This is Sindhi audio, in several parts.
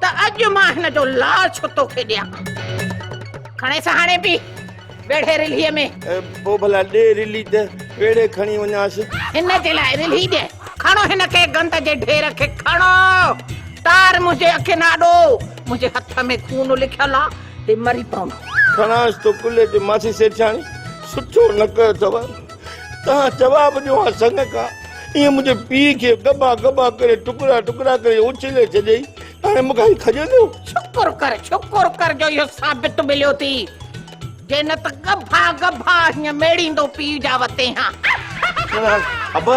ته اڄ مان هن جو لال ڇو تو کي ڏيان. کڻيس هاڻي به ويڙهي رلهيء ۾. پوء ڀلا ڏي رلهي ته ويڙهي کڻي وڃانس. هن جي لاء رلهي ڏي. کڻو هن کي گند جي ڍير کي کڻو. تار منهنجي اکين آڏو. منهنجي هٿ ۾ خون لکيل آ. هي مري پوندو. کڻانس ٿو ڪلهي تي ماسي سيٺياڻي سٺو نڪ اٿو. توهان جواب ڏيو ها سڱ کا، ايئن منهنجي پيء کي ڳڀا ڳڀا ڪري ٽڪرا ٽڪرا ڪري اڇلي ڇڏيئي، هاڻي مون کان هي کڄندو؟ شڪر ڪر شڪر ڪر جو اهو ثابت مليو ٿي، جي نه ته ڳڀا ڳڀا هيئن ميڙيندو پيء جا وتين ها. ابا!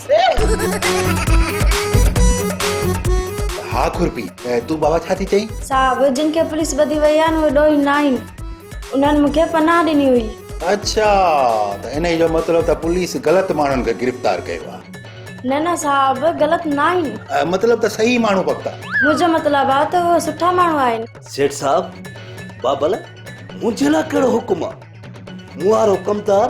ها خورپي تون بابا ڇا ٿي چئين؟ صاحب جن کي پوليس ٻڌي وئي آهي اهي ڏوهي نه آهن انهن مون کي پناهه ڏني هئي اڇا ته انهي جو مطلب ته پوليس غلط ماڻهن کي گرفتار ڪيو آهي نه نه صاحب غلط نه آهن مطلب ته صحيح ماڻهو پڪا منهنجو مطلب آهي ته اهي سٺا ماڻهو آهن سيٺ صاحب بابا لاء منهنجي لاء ڪهڙو حڪم آهي مون وارو ڪمدار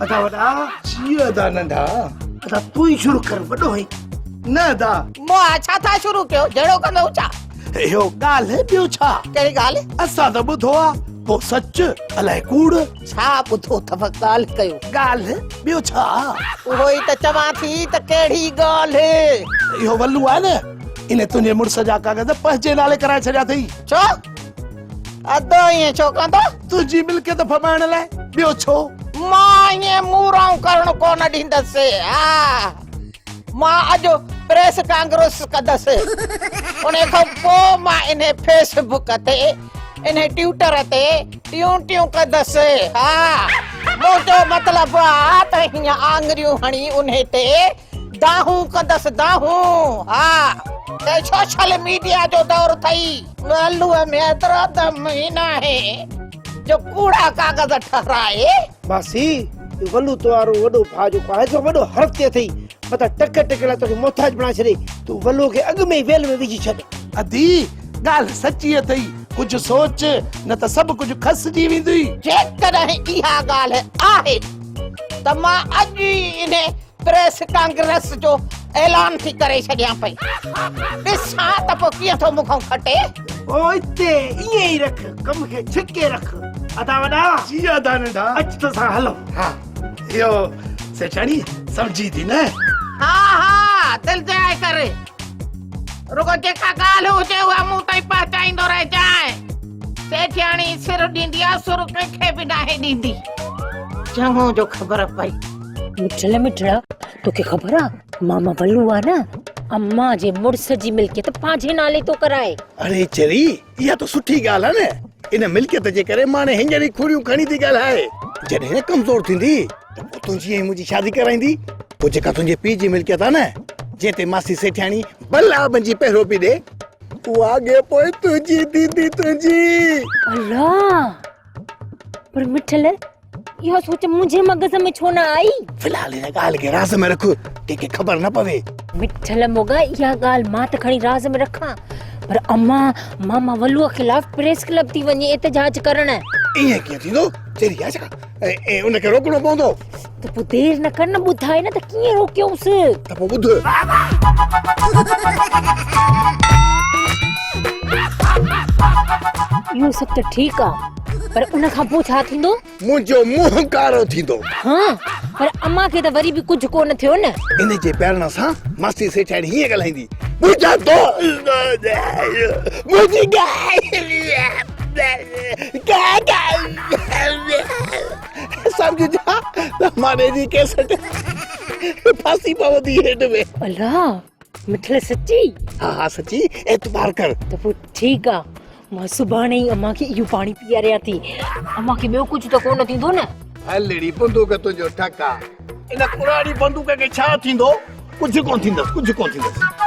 ادا وڏا جيء ادا ننڍا ادا تون ئي شروع ڪر وڏو هين نه ادا مون ڇا ٿا شروع ڪيو جهڙو ڪندو ڇا اهو ڳالهه ٻيو ڇا ڪهڙي ڳالهه اسان ته ٻڌو آ پو سچ الائي ڪوڙ ڇا ٻڌو اٿو ڳالهه ڪيو ڳالهه ٻيو ڇا اهو ئي ته چوان ٿي ته ڪهڙي ڳالهه اهو ولو آ نه ان تنهنجي مڙس جا ڪاغذ پنهنجي نالي ڪرائي ڇڏيا اٿئي ڇو ادو ائين ڇو ڪندو؟ تنهنجي ملڪيت ڦٻائڻ لاء، ٻيو ڇو؟ مان ائين مورائون ڪرڻ ڪونه ڏيندس. ها، مان اڄ پريس ڪانگرس ڪندس. انهي کان پوء مان انهي فيس بڪ تي، انهي ٽيوٽر تي ٽيون ٽيون ڪندس. ها، منهنجو مطلب آ ته هيئن آڱريون هڻي انهي تي دانهون ڪندس دانهون ها ته سوشل ميڊيا جو دور ٿئي. ڳالهه ۾ ايترو دم ئي ناهي جو ڪوڙا ڪاغذ ٺهرائي. ماسي اهو ولو تو وارو وڏو ڀاء جيڪو آهي سو وڏو حرف تي اٿئي متان ٽڪ ٽڪ لاء توکي محتاج بڻائي ڇڏي تون ولو کي اڳ ۾ ئي ويل ۾ وجهي ڇڏ. ادي ڳالهه سچي اٿئي ڪجهه سوچ نه ته سڀ ڪجهه کسجي ويندئي. جيڪڏهن اها ڳالهه آهي ته مان اڄ ئي انهي پريس ڪانگريس جو اعلان ٿي ڪري ڇڏيان پئي ڏسان ته پوء ڪيئن ٿو مون کان کٽي او اتي ائين ئي رک ڪم کي ڇڪي رک ادا وڏا جي ادا ننڍا اچ تو سان هلون ها اهو سيٺاڻي سمجهي ٿي نه ها ها دل جاء ڪري رڳو جيڪا ڳالهه هجي اها مون تائين پهچائيندو رهجانء سيٺياڻي سر ڏيندي آ سر ڪنهن کي به ناهي ڏيندي چڱو جو خبر پئي مٺڙي مٺڙا توکي خبر آ ماما بلو آ نه امان جي مڙس جي ملڪيت پنهنجي نالي ٿو ڪرائي. اڙي چري اها ته سٺي ڳالهه آ نه ان ملڪيت جي ڪري ماڻي هينئر ئي کوڙيون کڻي ٿي ڳالهائي جڏهن ڪمزور ٿيندي ته پوء تنهنجي ۽ منهنجي شادي ڪرائيندي پوء جيڪا تنهنجي پيء جي ملڪيت آ نه جنهن تي ماسي سيٺياڻي بل آ بنجي پهرو پي ڏي اها اڳي پوء تنهنجي ٿيندي تنهنجي. الله پر مٺل اهو سوچ منهنجي مغز ۾ ڇو نه آئي في الحال هن ڳالهه کي راز ۾ رک ڪنهن خبر نه پوي مٺل موڳا اها ڳالهه مان ته کڻي راز ۾ رکان پر اما ماما ولوء خلاف پريس ڪلب ٿي وڃي احتجاج ڪرڻ ايئن ڪيئن ٿيندو چري آ ڇا ۽ ان کي روڪڻو پوندو ته پوء دير نه ڪر نه ٻڌاء نه ته ڪيئن روڪيوس ته پوء ٻڌ اهو سڀ ته ٺيڪ آ پر ان کان پوء ڇا ٿيندو؟ منهنجو منهن ڪارو ٿيندو. ها پر امان کي ته وري به ڪجهه ڪو نه ٿيو نه. ان جي پيارڻ سان ماستي سيٺياڻي هيئن ڳالهائيندي، منهنجا دوست منهنجي ڳالهه سمجهندا ته ماني جي ڪيسٽ ڦاسي پوندي هيٺ ۾. الا! مٺڙي سچي ها ها سچي اعتبار ڪر ته پوء ٺيڪ آ مان سڀاڻي ئي امان کي اهو پاڻي پياريان ٿي امان کي ٻيو ڪجهه ته ڪونه ٿيندو نه هلڙي بندوق تنهنجو ٽڪ آ ان ڪراڙي بندوق کي ڇا ٿيندو ڪجهه ڪونه ٿيندس ڪجهه ڪونه ٿيندس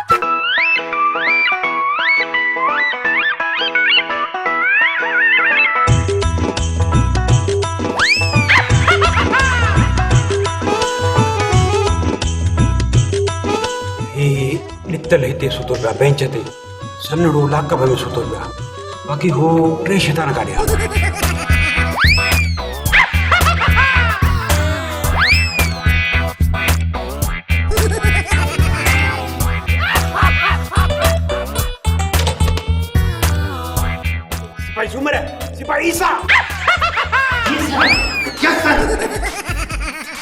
ڏتل هتي ستو پيا بينچ تي سنڙو لاڪ ۾ ستو پيا باقي هو ٽي شيطان ڪاڏي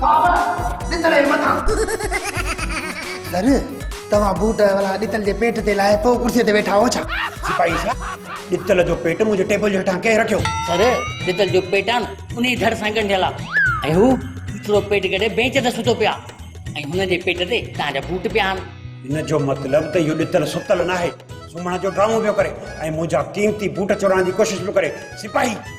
بابا ڏتل جي مٿان سر توهان بوٽ اولا ڏتل جي پيٽ تي لاهي پوء ڪرسي تي ويٺا هو ڇا سپاهي صاحب ڏتل جو پيٽ منهنجي ٽيبل جي هيٺان ڪنهن رکيو سر ڏتل جو پيٽ آن انهي ڌڙ سان ڳنڍيل آ ۽ هو ڏتلو پيٽ ڳڙي بينچ تي ستو پيو آ ۽ هن جي پيٽ تي توهان جا بوٽ پيا آن ان جو مطلب ته اهو ڏتل ستل ناهي سمهڻ جو ڊرامو پيو ڪري ۽ منهنجا قيمتي بوٽ چورائڻ جي ڪوشش پيو ڪري سپاهي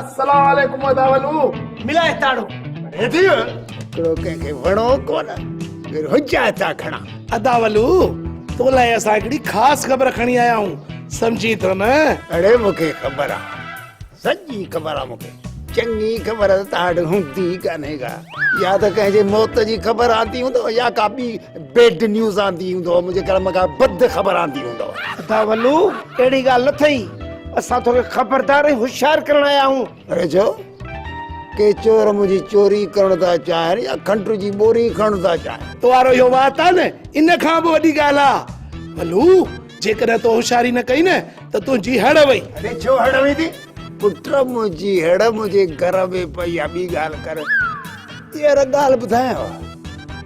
السلام عليڪم ادا ولو ملاء تاڙو هيدي هڪڙو ڪنهن کي وڻو ڪون پھر هجا چا کڻا ادا ولو تو لاء اسا هڪڙي خاص خبر کڻي آيا آهون سمجھي ٿو نه اڙي مونکي خبر آ سڄي خبر آ مونکي چڱي خبر تاڙ هوندي ڪانهي ڪا يا ته ڪنهن جي موت جي خبر آندي هوندو يا ڪا ٻي بيڊ نيوز آندي هوندو منهنجي ڪرم کان بد خبر آندي هوندو ادا ولو اهڙي ڳالهه نه ٿئي اسان توکي خبردار ۽ هوشيار ڪرڻ آيا آهيون. اري ڇو؟ ڪي چور منهنجي چوري ڪرڻ ٿا چاهين يا کنڊ جي ٻوري کڻڻ ٿا چاهين؟ تو وارو اهو وات آهي نه، ان کان به وڏي ڳالهه آ. ڀلو، جيڪڏهن تو هوشياري نه ڪئي نه ته تنهنجي هڙ وئي. اري ڇو هڙ ويندي؟ پٽ، منهنجي هڙ منهنجي گهر ۾ پئي آ، ٻي ڳالهه ڪر. هينئر ڳالهه ٻڌايانء.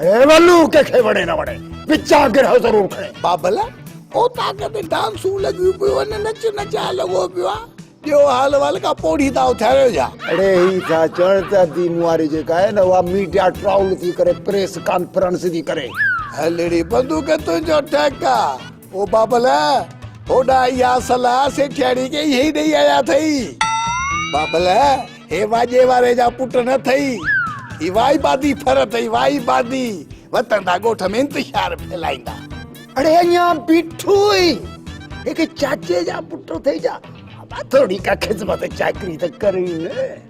اي ولو ڪنهن کي وڻي نه وڻي پچا گرهه ضرور کڻي. بابل، او طاقت ۽ ڊانسون لڳيون پيون هن نچ نچاء لڳو پيو آ ڏيو حال احوال ڪا پوڙهي تان اٿاريو ڇا. اڙي هي ٿا چون ته ادي مئاري جيڪا آهي نه اها ميڊيا ٽرائول ٿي ڪري پريس ڪانفرنس ٿي ڪري. هلڙي بندوق تنهنجو ٽهڪ آ. او بابل، هوڏا اها صلاح سيٺياڻي کي ايئن ئي ڏيئي آيا اٿئي. بابل، هي واڄي واري جا پٽ نه اٿئي. هي وائي بادي ڦر اٿئي، وائي بادي. وتندا ڳوٺ ۾ انتشار ڦهلائيندا. اڙي اڃا بيٺو هئي. هڪ چاچي جا پٽ اٿئي ڇا؟ بابا، ٿوري ڪا خدمت چاڪري ته ڪرئي نه.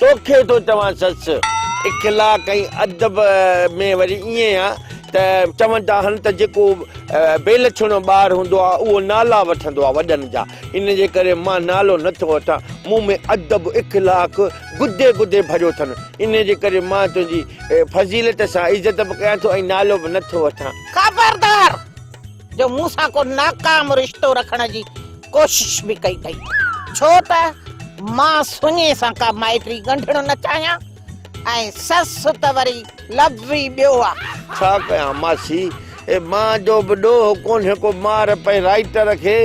توکي ٿو چوان سس اخلاق ۽ ادب ۾ وري ائين آ ته چوندا آهن ته جيڪو بي لڇڻو ٻار هوندو آ اهو نالا وٺندو آ وڏن جا ان جي ڪري مان نالو نه ٿو وٺان مون ۾ ادب اخلاق گدي گدي ڀريو ٿن ان جي ڪري مان تنهنجي فضيلت سان عزت به ڪيان ٿو ۽ نالو به نه ٿو وٺان. خبردار! جو مون سان ڪو ناڪام رشتو رکڻ جي ڪوشش به ڪئي اٿئي ڇو ته مان سڃي سان ڪا مائٽي ڳنڍڻ نه چاهيان ۽ سس ته وري لفظ ئي ٻيو آهي. ڇا ڪيان ماسي اي مان جو به ڏوهه ڪونهي ڪو مار پئي رائٽر کي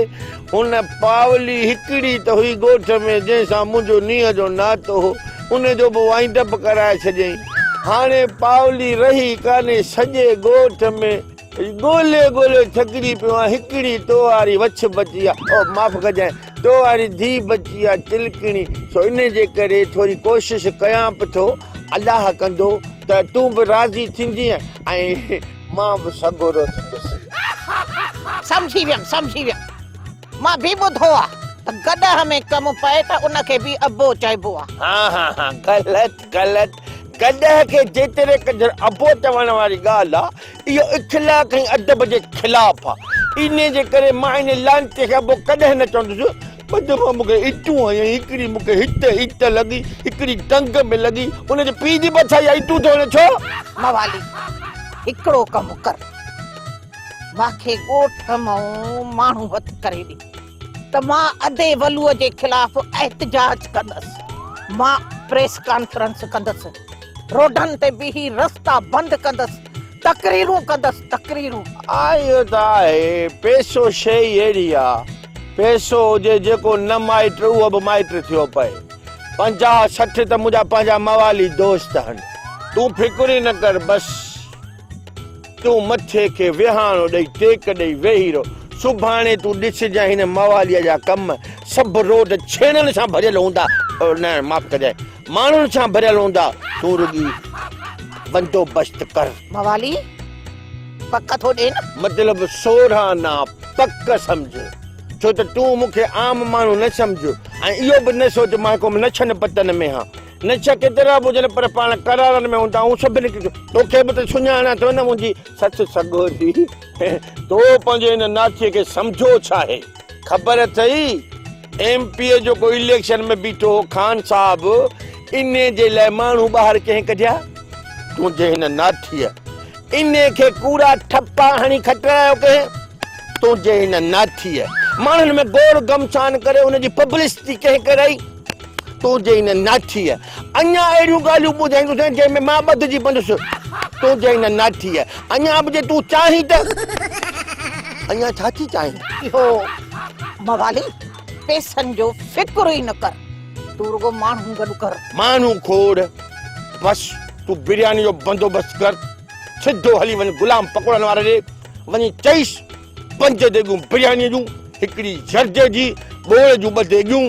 ان پاولي هڪڙي ته هئي ڳوٺ ۾ جنهن سان منهنجو نينهن جو ناتو هو ان جو به وائنڊ اپ ڪرائي ڇڏيائين هاڻي پاولي رهي ڪانهي سڄي ڳوٺ ۾ ڳولي ڳولي ٿڪجي پيو آهيان هڪڙي تو واري وڇ بچي آ او معاف ڪجانء تو واري ڌي بچي آ تلڪڻي سو ان جي ڪري ٿوري ڪوشش ڪيان به ٿو الله ڪندو ته تون به راضي ٿيندينء ۽ مان به سڳورو ٿيندس. سمجهي ويم سمجهي ويم مان به ٻڌو آ ته گڏهه ۾ ڪم پئي ته ان کي به ابو چئبو آ. ها ها ها غلط غلط، گڏهه کي جيتري قدر ابو چوڻ واري ڳالهه آ، اهو اخلاق ۽ ادب جي خلاف آ. انهيء جي ڪري مان انهيء لعنتي کي ابو ڪڏهن نه چوندس. ٻه دفعا مون کي ايٽون هنيائين، هڪڙي مون کي هت هت لڳي، هڪڙي ٽنگ ۾ لڳي، ان جي پيء جي به اٿائي آ، ايٽون ٿو هڻي ڇو؟ موالي، هڪڙو ڪم ڪر، ماکي ڳوٺ مئون ماڻهو هٿ ڪري ڏي. ته مان ادي ولوء جي خلاف احتجاج ڪندس، مان پريس ڪانفرنس ڪندس، روڊن تي بيهي رستا بند ڪندس، تقريرون ڪندس، تقريرون. ها اهو ته آهي، پئسو شيء ئي اهڙي آ، پئسو هجي جيڪو نه مائٽ اهو به مائٽ ٿيو پئي، پنجاهه سٺ ته منهنجا پنهنجا موالي دوست هن، تون فڪر ئي نه ڪر بس. تون مٿي کي ويهاڻو ڏئي ٽيڪ ڏئي ويهي رهو. سڀاڻي تون ڏسجانء هن مواليء جا ڪم. سڀ روڊ ڇيڻن سان ڀريل هوندا. او نه، معاف ڪجانء. ماڻهن سان ڀريل هوندا. تون رڳي بندوبست ڪر. موالي پڪ ٿو ڏئي نه؟ مطلب سورهن آن پڪ سمجهه. ڇو ته تون مون کي عام ماڻهو نه سمجهه ۽ اهو به نه سوچ مان ڪو نڇن پتن ۾ هان. نشا ڪيترا به هجن پر پاڻ قرارن ۾ هوندا آهيون سڀني کي توکي به ته سڃاڻان ٿيو نه منهنجي سچ سڳوري تو پنهنجي هن ناچي کي سمجهو ڇا آهي خبر اٿئي ايم پي جو ڪو اليڪشن ۾ بيٺو هو خان صاحب انهي جي لاء ماڻهو ٻاهر ڪنهن ڪڍيا تنهنجي هن ناچي انهي کي ڪوڙا ٺپا هڻي کٽرايو ڪنهن تنهنجي هن ناچي ماڻهن ۾ گور گمسان ڪري ان جي پبلسٽي ڪنهن ڪرائي تنهنجي ان ناٺيء اڃا اهڙيون ڳالهيون ٻڌائيندوسين جنهن ۾ مان ٻڌجي پوندس. تنهنجي ان ناٺيء اڃا به جي تون چاهين ته. اڃا ڇا ٿي چاهين؟ اهو موالي پيسن جو فڪر ئي نه ڪر. تون رڳو ماڻهو گڏ ڪر. ماڻهو کوڙ. بس تون برياني جو بندوبست ڪر. سڌو هلي وڃ غلام پڪوڙن واري ڏي وڃي چئيس. پنج ديڳون بريانيء جون، هڪڙي جرجي جي، ٻوڙ جون ٻه ديڳيون.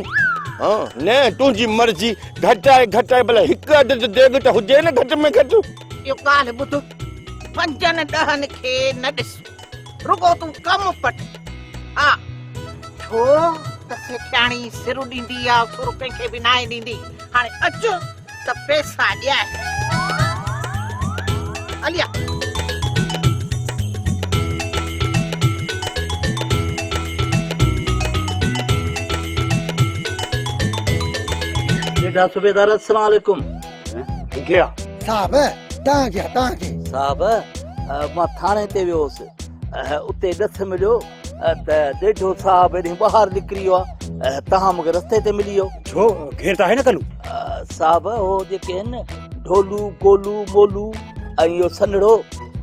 ها نه، تنهنجي مرضي. گهٽائي گهٽائي ڀلا هڪ اڌ ته ديڳ ته هجي نه گهٽ ۾ گهٽ. اهو ڪالهه ٻڌ، پنجن ڏهن کي نه ڏس، رڳو تون ڪم پٽ. ها، ڇو ته سيٺياڻي سر ڏيندي آ، سر ڪنهن کي به ناهي ڏيندي. هاڻي اچ. ته پيسا ڏيائي عليا. جيٺا صوبيدار السلام عليڪم گيا. صاحب تان گيا تان کي. صاحب مان ٿاڻي تي ويو هوس اتي ڏٿ مليو. ته ڏيڍو صاحب هيڏي ٻاهر نڪري ويو آهي توهان مون کي رستي تي ملي ويو ڇو گهير ته آهي نه ڪلو صاحب هو جيڪي آهن نه ڍولو گولو مولو ۽ اهو سنڙو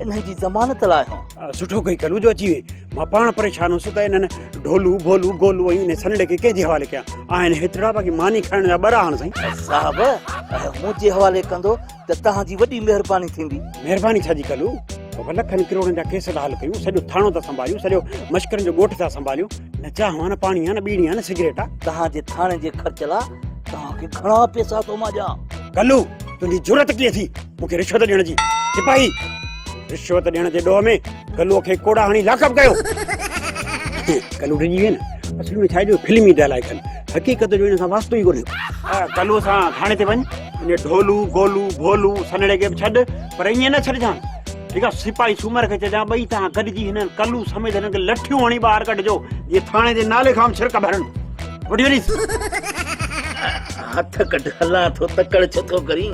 انهن جي ضمانت لاء هو سٺو ڪئي ڪلو جو اچي وئي مان پاڻ پريشان هوس ته انهن ڍولو ڀولو گولو ۽ انهي سنڙي کي ڪنهن جي حوالي ڪيان آهن هيترا باقي ماني کائڻ جا ٻرا آهن سائين صاحب منهنجي حوالي ڪندو ته توهان جي وڏي مهرباني ٿيندي. مهرباني ڇا جي ڪندو، بابا لکن ڪروڙن جا ڪيس ٿا حل ڪيون، سڄو ٿاڻو ٿا سنڀاليون، سڄو مشڪرن جو ڳوٺ ٿا سنڀاليون، نه چانهه آ نه پاڻي آ نه ٻيڙي آ نه سگريٽ آ. توهان جي ٿاڻي جي خرچ لا توهان کي گهڻا پيسا ٿو مان ڏيان. ڪلو تنهنجي جرئت ڪيئن ٿي مون کي رشوت ڏيڻ جي. سپاهي! رشوت ڏيڻ جي ڏوهه ۾ گلوء کي ڪوڙا هڻي لاڪپ ڪيو ڪلو ڊڄي ويئي نه اصل ۾ ڇا جو فلمي ڊائلاگ ڪن حقيقت جو ان سان واسطو ئي ڪونهي ڪلو سان ٿاڻي تي وڃ ان ڍولو گولو ڀولو سنڙي کي به ڇڏ پر ائين نه ڇڏجان ٺيڪ آ سپاهي سومر کي چئجان ٻئي تان گڏجي هنن ڪلو سميت هنن کي لٺيون هڻي ٻاهر ڪڍجو جي ٿاڻي جي نالي کان ڇرڪ ڀرن وٺي وڃيس هٿ ڪڍ هلا ٿو تڪڙ ڇو ٿو ڪرين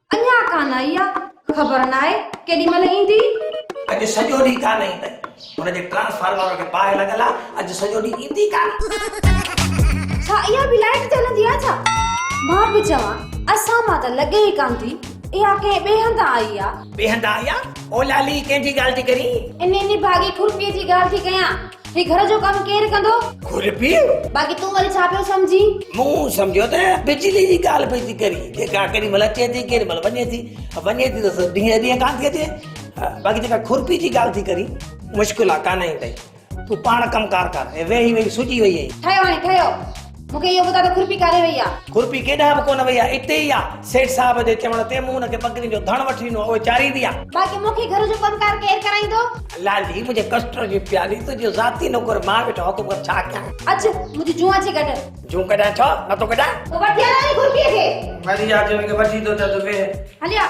اڃا ڪانه آئي آ خبر ناهي ڪيڏي مهل ايندي. اڄ سڄو ڏينهن ڪانه ايندي. هن جي ٽرانسفارمر کي باهه لڳل آ اڄ سڄو ڏينهن ايندي ڪانه. ڇا اها به لائيٽ تي هلندي آ ڇا؟ مان به چوان اسان مان ته لڳي ئي ڪانه ٿي اها ڪنهن ٻئي هنڌان آئي آ. ٻئي هنڌان آئي آ؟ او لالي ڪنهن جي ڳالهه ٿي ڪرين؟ انهي نڀاڳي کڙپي جي ڳالهه ٿي ڪيان. هي گهر جو ڪم ڪير ڪندو؟ کورپي! باقي تون وري ڇا پيو سمجهين؟ مون سمجهيو ته بجلي جي ڳالهه پئي ٿي ڪرين، جيڪا ڪيڏي مهل اچي ٿي ڪيڏي مهل وڃي ٿي، وڃي ٿي ته ڏينهن ڏينهن ڪانه ٿي اچي، باقي جيڪا کورپي جي ڳالهه ٿي ڪرين، مشڪل آهي ڪانه ايندئي، تون پاڻ ڪم ڪار ڪر، هي ويهي ويهي سجي وئي آهين. ٺهيو هاڻي ٺهيو. مون کي اهو ٻڌاء ته کورپي ڪاڏي وئي آ؟ کورپي ڪيڏانهن به ڪونه وئي آ، اتي ئي آ. سيٺ صاحب جي چوڻ تي مون هن کي ٻڪرين جو ڌڻ وٺي ڏنو آ، اهي چاريندي آ. باقي مون کي گهر جو ڪم ڪار ڪير ڪرائيندو؟ لالي، منهنجي ڪسٽر جي پيالي، تنهنجو ذاتي نوڪر مان ويٺو آهيان، تون ٻڌ ڇا ڪيان؟ اچ، منهنجي جون اچي ڪڍ. جون ڪڍان ڇو نه ٿو ڪڍان. پوء وٺي هلان ني کورپي کي. وري آ جي هن کي وٺي ٿو اچان ته ويهه. هليا.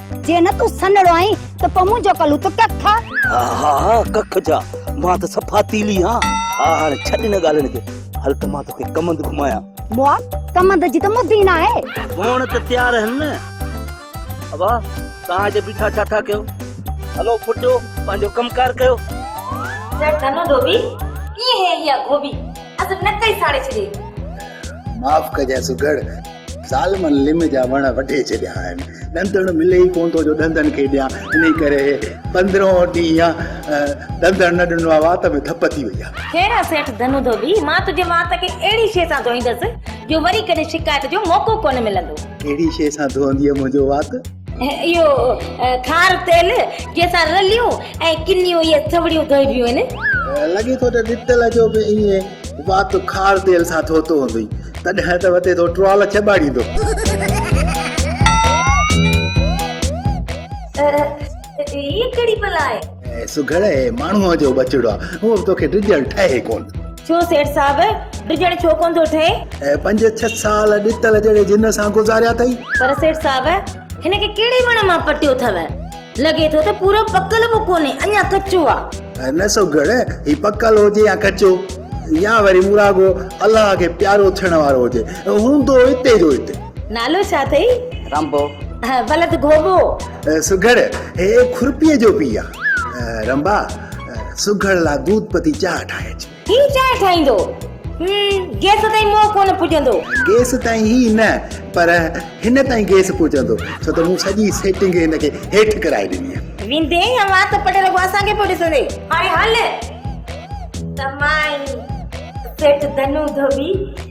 جي نه تون سنهڙو آهين ته پوء منهنجو ڪلو ته ڪک آ. ها ها ها ڪک ڇا مان ته صفا تيلي آهان. ها هاڻي ڇڏ ان ڳالهين کي هل ته مان توکي ڪمند گهمايان. مئا ڪمند جي ته مد ئي ناهي. هونئن ته تيار آهن نه. ابا توهان هتي بيٺا ڇا ٿا ڪيو. هلو ڦٽيو پنهنجو ڪم ڪار ڪيو. سيٺ ڌنو ڌوٻي ڪيئن هي اها گوڀي اسين نڪئي ساڙي ڇڏي. معاف ڪجانء سگهڙ. ظالمن لم جا وڻ وڍي ڇڏيا آهن، ڏندڻ ملي ئي ڪونه ٿو جو ڏندن کي ڏيان، انهي ڪري پندرهون ڏينهن ڏندڻ نه ڏنو آهي، وات ۾ ڌپ ٿي وئي آهي. خير آ سيٺ ڌنو ڌوٻي، مان تنهنجي وات کي اهڙي شيء سان ڌوئيندس جو وري ڪڏهن شڪايت جو موقعو ڪونه ملندو. ڪهڙي شيء سان ڌوئندينء منهنجو وات؟ اهو کار تيل جنهن سان رليون ۽ ڪنيون اهي ٿوڙيون ڌوئبيون آهن. لڳي ٿو ته ڏتل جو به ايئن وات کار تيل سان ڌوتو هوندئي، تڏهن ته وتي ٿو ٽوال چٻاڙيندو. هيء ڪهڙي بلا آهي؟ اي سگهڙ اي ماڻهوء جو ٻچڙو آ، هو به توکي ڊڄڻ ٺهي ڪونه ٿو. ڇو سيٺ صاحب، ڊڄڻ ڇو ڪونه ٿو ٺهي؟ اي پنج ڇهه سال ڏتل جهڙي جن سان گذاريا اٿئي. پر سيٺ صاحب، هن کي ڪهڙي وڻ مان پٽيو ٿئو؟ لڳي ٿو ته پورو پڪل به ڪونهي، اڃا ڪچو آ. نه سگهڙ، هي پڪل هجي يا ڪچو، يا وري مون راڳو الله کي پيارو ٿيڻ وارو هجي، هوندو اتي جو اتي. نالو ڇا اٿئي؟ رنڀو. بلد گهوٻو. سگهڙ، هي کورپيء جو پيء آ. رنڀا، سگهڙ لا دود پتي چانهه ٺاهي اچ. هي چانهه ٺاهيندو. هيم، گيس تائين منهن ڪونه پڄندو. گيس تائين ئي نه، پر هن تائين گيس پڄندو، ڇو ته مون سڄي سيٽنگ هن کي هيٺ ڪرائي ڏني آ. ويندين يا وات پٽي رڳو اسان کي پيو ڏسندين. هاڻي هل ته مان ئي سيٺ ڌنو ڌوٻي.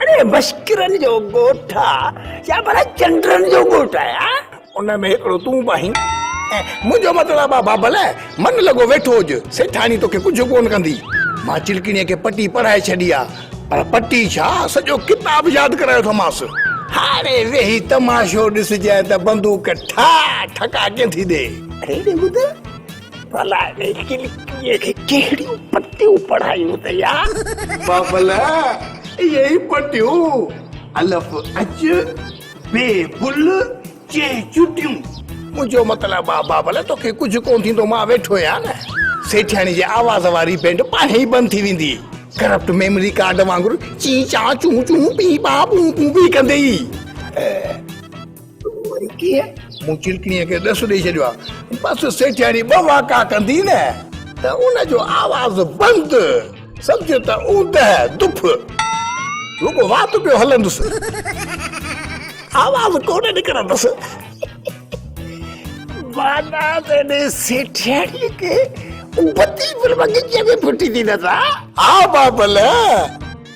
اڙي مشڪرن جو ڳوٺ آ يا ڀلا چنڊرن جو ڳوٺ آ يار. ان ۾ هڪڙو تون به آهين. منهنجو مطلب آ بابل من لڳو ويٺو هج سيٺاڻي توکي ڪجهه ڪون ڪندي. مان چلڪڻي کي پٽي پڙهائي ڇڏي آ پر پٽي ڇا سڄو ڪتاب ياد ڪرايو اٿمانس. هاڻي ويهي تماشو ڏسجانء ته بندوق ٺاهه ٺڪا ڪين ٿي ڏي. اڙي ٻڌ. ڀلا انهي کلڪيء کي ڪهڙيون پٽيون پڙهايون اٿئي آ؟ بابل، اهي ئي پٽيون، الف اچ، ب بل، چ چوٽيون. منهنجو مطلب آ بابل، توکي ڪجهه ڪونه ٿيندو، مان ويٺو آهيان نه. سيٺياڻي جي آواز واري بينڊ پاڻهي ئي بند ٿي ويندي. ڪرپٽ ميمري ڪارڊ وانگر چين چان چون چون پين پان پون پون پي ڪندي ئي. وري ڪيئن؟ مون چلڪڻيء کي ڏس ڏيئي ڇڏيو آهي. بس سيٺياڻي ٻه واڪا ڪندي نه ته ان جو آواز بند، سمجھ ته اوندهه، دڦ، رڳو وات پيو هلندس، آواز ڪونه نڪرندس. معنيٰ ته انهيء سيٺياڻيء کي بتي به بغيچي ۾ ڦٽي ڏنس ها! ها بابل!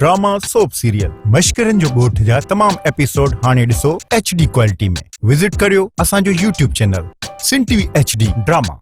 ڊراما سوپ سيريل مشڪرين جو ڳوٺ جا تمام ايپيسوڊ هاڻي ڏسو ايڇ ڊي ڪوالٽي ۾ وزٽ ڪريو اسان جو YouTube channel Sun T V H D drama